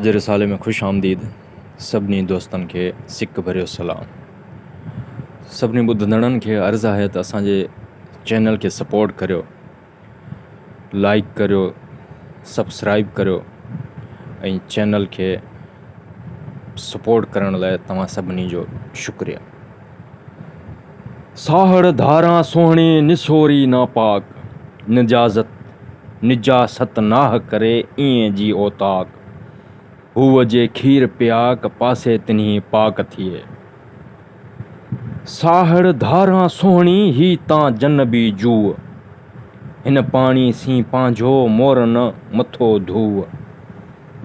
جي رسالي ۾ خوش آمديد سڀني دوستن کي سڪ ڀريو سلام سڀني ٻڌندڙن کي عرض آهي ته اسان جي چينل کي سپورٽ ڪريو لائيڪ ڪريو سبسڪرائيب ڪريو ۽ چينل کي سپورٽ ڪرڻ لاء توهان سڀني جو شڪريه. ساهڙ ڌاران سهڻي نسوري ناپاڪ، نجازت نجاست ناهه ڪري ايئن جي اوطاق، هوء جي کير پياڪ پاسي تنهي پاڪ ٿئي. ساهڙ ڌاران سهڻي هي تان جنبي جوء، هن پاڻي سين پنهنجو مور نه مٿو ڌوء.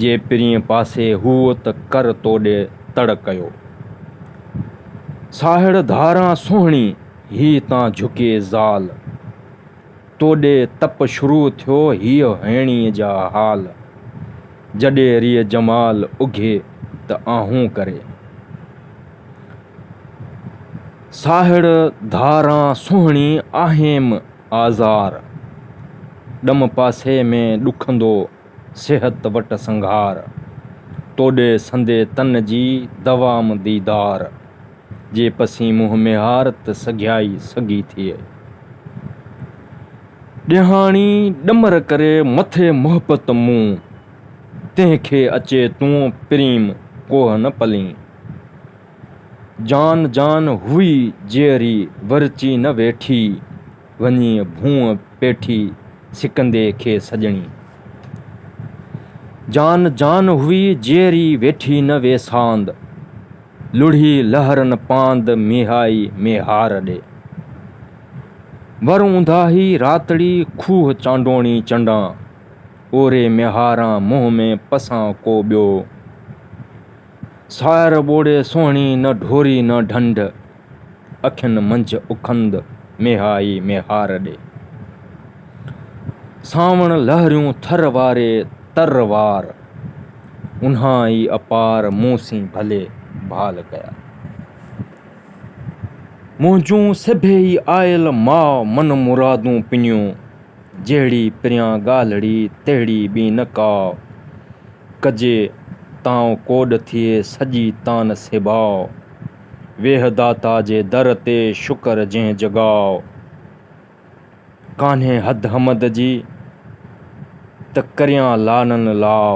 جي پرينء پاسي هوء ته ڪر توڏي تڙ ڪيو. ساهڙ ڌاران سهڻي هي تان جهڪي زال. توڏي تپ شروع ٿيو هيء هيڻيء جا حال. جڏي ريء جمال اگهي ته آهون ڪري. ساهڙ ڌاران سهڻي آهيم آزار. ڏم پاسي ۾ ڏکندو. صحت وٽ سنگهار، توڏي سندي تن جي دوام ديدار، جي پسين منهن ميهار ته سگهيائي سگهي ٿئي. ڏيهاڻي ڏمر ڪري مٿي محبت مون، تنهن کي اچي تون پريم ڪوهه نه پلين. جان جان هئي جيئري ورچي نه ويٺي. وڃي ڀونء پيٺي سڪندي کي سڄڻي. جان جان هئي جيئري ويٺي نه ويساند. لڙهي لهرن پاند ميهائي ميهار ڏي. ور اونداهي راتڙي کوهه چانڊوڻي چنڊان. اوري ميهاران منهن ۾ پسان ڪو ٻيو. ساهر ٻوڙي سهڻي نه ڍوري نه ڍنڍ. اکين منجهه اکند ميهائي ميهار ڏي. سانوڻ لهريون ٿر واري تر وار. اونهائي اپار مون سين ڀلي ڀال ڪيا. منهنجون سڀيئي آيل ماء من مرادون پنيون. جهڙي پريان ڳالهڙي تهڙي ٻي نه ڪا. ڪجي تانء ڪوڏ ٿئي سڄي تان سيباء. ويهه داتا جي در تي شڪر جنهن جڳاء ڪانهي حد حمد جي ته ڪريان لعنن لاء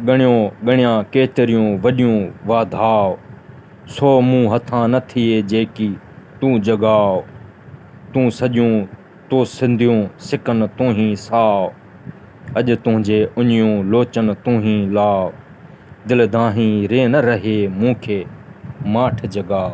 ڳڻيو ڳڻيان ڪيتريون وڏيون واڌاء سو مون هٿان نه ٿئي جيڪي تون جڳاء تون سڄون تو سنديون سڪن تون هي ساء. اڄ تنهنجي اڃيون لوچن تون هي لاء، دل دانهين ري نه رهي مون کي ماٺ جڳاء.